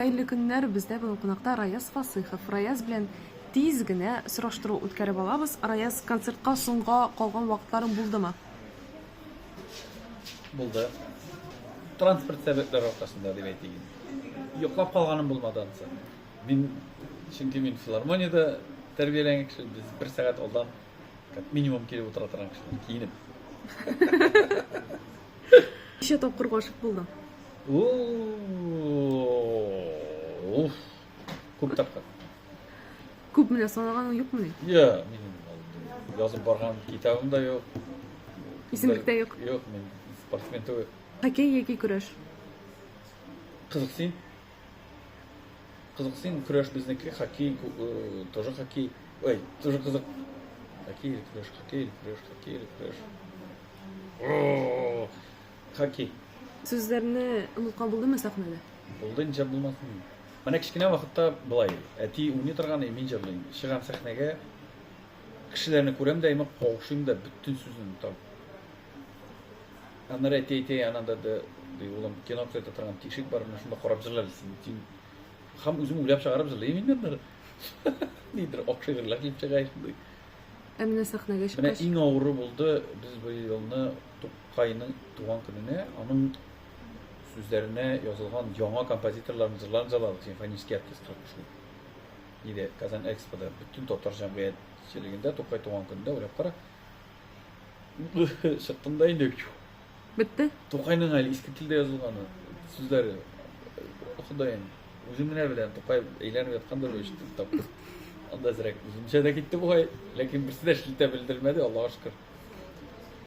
Хәерле көннәр, бездә бүген кунакта Раяз Фасыйхов. Раяз белән тиз генә сораштыру үткәреп алабыз. Раяз, концертка соңга калган вакытларың булдымы? Булды. Транспорт сәбәпләре аркасында дип әйтик инде. Йоклап калганым булмады ансы. Мин, чөнки мин филармониядә тәрбияләнгән кеше, без бер сәгать алдан Как минимум килеп утыра торган кешеләр киенеп. Ничә тапкыр гашык булдың? Уф. Күп тапкыр. Күп менә санаганың юкмы ни? Я, минем язып барган китабым да юк. Исемлек тә юк. Юк, мин спортсмен түгел. Хоккей яки көрәш? Кызыксыйм. Кызык син көрәш безнеке хоккей, тоже хоккей. Ой, тоже кызык. Хоккей или креш, хоккей или креш, хоккей или креш. Хоккей. Сүзләрне онытка булдымы сәхнәдә? Булды, ничә булмасын. Менә кечкенә вакытта былай, әти уйный торган, и мин җырлыйм. Чыгам сәхнәгә, кешеләрне күрәм дә, имак каушыйм да, бөтен сүзне онытам. Аннары әти әйтә, янында да, ди, улым, кино күрсәтә торган тишек бар, менә шунда карап җырлар дисен. Тин. Хам үзем уйлап чыгарып җырлыйм инде аннары. Нидер ак шигырьләр килеп чыга шундый. Ә менә сәхнәгә чыккач. Менә иң авыры булды, без бу елны Тукайның туган көненә аның сүзләренә язылган яңа композиторларның җырларын җырладык, симфонический оркестр шул. Иде Казан Экспода бөтен татар җәмгыятьчелегендә Тукай туган көнендә уйлап кара. Чыкканда инде Бетте? Тукайның әле иске телдә язылганы сүзләре. Ходаем, үзем генә беләм, Тукай әйләнеп яткандыр бу ишетеп тап. Анда зрәк үземчә дә китте бугай, ләкин берсе дә шелтә белдермәде, Аллага шөкер.